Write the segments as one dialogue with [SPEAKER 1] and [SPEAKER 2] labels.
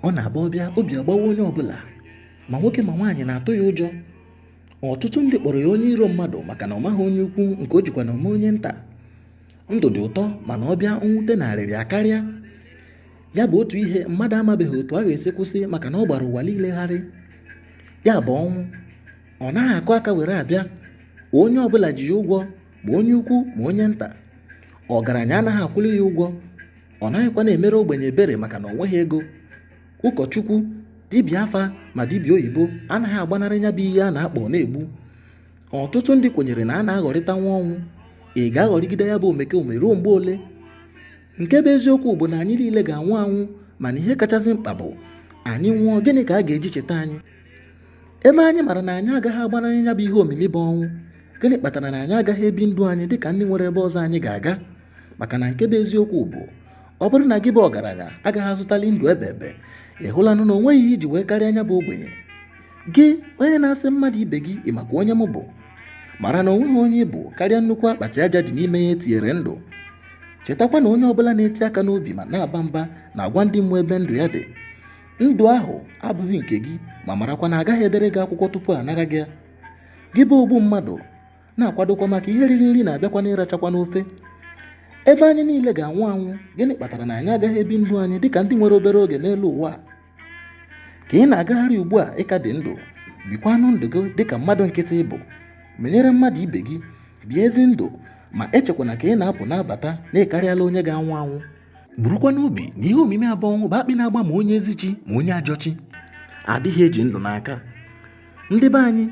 [SPEAKER 1] ọ na-abụ ọ bịa obi agbawa onye ọbụla ma nwoke ma nwaanyị na-atụ ya ụjọ ọtụtụ ndị kpọrọ ya onye iro mmadụ maka na ọ maghị onye ukwu nke o jikwa na ọ ma onye nta ndụ dị ụtọ mana ọ bịa mwute na arịrị akarịa ya bụ otu ihe mmadụ amabeghị otu a ga-esi kwụsị maka na ọ gbara ụwa niile gharị ya bụ ọnwụ ọ naghị akụ aka were abịa onye ọbụla ji ya ụgwọ ma onye ukwu ma onye nta ọgaranya anaghị akwụli ya ụgwọ ọ naghịkwa na-emere ogbenye ebere maka na ọ nweghị ego ụkọchukwu dibịa afa ma dibịa oyibo anaghị agbanarị ya bụ ihe a na-akpọ na-egbu ọtụtụ ndị kwenyere na a na-aghọrịta nwa ọnwụ ị ga-aghọrịgide ya bụ omekome ruo mgbe ole nke bụ eziokwu bụ na anyị niile ga-anwụ anwụ mana ihe kachasị mkpa bụ anyị nwụọ gịnị ka a ga-eji cheta anyị ebe anyị mara na anyị agaghị agbanarị ya bụ ihe omimi bụ ọnwụ gịnị kpatara na anyị agaghị ebi ndụ anyị dịka ndị nwere ebe ọzọ anyị ga-aga maka na nke bụ eziokwu bụ ọ bụrụ na gị bụ ọgaranya agaghị azụtali ndụ ebebe ị hụlanụ na o nweghị ihe i ji wee karịa nya bụ ogbenye gị onye na-asị mmadụ ibe gị ị makwa onye m bụ mara na o nweghị onye ị bụ karịa nnukwu akpati aja dị n'ime ya e tinyere ndụ chetakwa na onye ọbụla na-eti aka n'obi ma na-aba mba na-agwa ndị mmụọ ebe ndụ ya dị ndụ ahụ abụghị nke gị ma marakwa na a gaghị edere gị akwụkwọ tupu a nara gị ya gị bụ ogbu mmadụ na-akwadokwa maka ihe riri nri na-abịakwa n'ịrachakwa n'ofe ebe anyị niile ga-anwụ anwụ gịnị kpatara na anyị agaghị ebi ndụ anyị dịka ndị nwere obere oge n'elu ụwa ka ị na-agagharị ugbu a ị ka dị ndụ bikwanụ ndụ gị dịka mmadụ nkịtị ị bụ menyere mmadụ ibe gị bie ezi ndụ ma echekwana ka ị na-apụ na-abata na ị karịala onye ga-anwụ anwụ burukwa n'obi na ihe omimi a bụ ọnwụ bụ akpị na-agba ma onye ezi chi ma onye ajọ chi adịghị eji ndụ n'aka ndị be anyị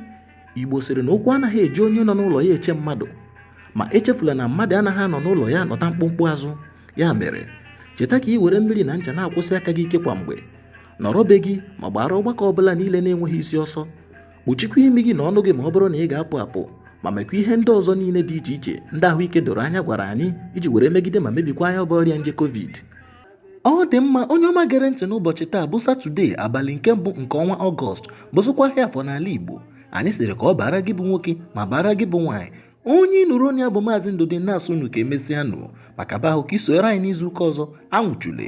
[SPEAKER 1] igbo sịrị na ukwu anaghị eji onye nọ n'ụlọ ya eche mmadụ ma echefula na mmadụ anaghị anọ n'ụlọ ya anọta mkpumkpu azụ ya mere cheta ka ị were mmiri na ncha na-akwọsi aka gị ike kwa mgbe nọrọ be gị ma gbaara ọgbakọ ọbụla niile na-enweghị isi ọsọ kpuchikwa imi gị na ọnụ gị ma ọ bụrụ na ị ga-apụ apụ ma mekwa ihe ndị ọzọ niile dị iche iche ndị ahụike doro anya gwara anyị iji were megide ma mebikwaa nya bụ ọrịa nje covid ọ dị mma onye ọma gere ntị n'ụbọchị taa bụ satọde abalị nke mbụ nke ọnwa ọgọst bụzikwa ahịa afọ n'ala igbo anyị sịrị ka ọ baara gị bụ nwoke ma baara gị bụ nwaanyị onye ị nụrụ olu ya bụ maazị ndụdị na-asị unu ka e mesịanụ maka ba ahụ ka i sonyere anyị n'izu ụka ọzọ anwụchule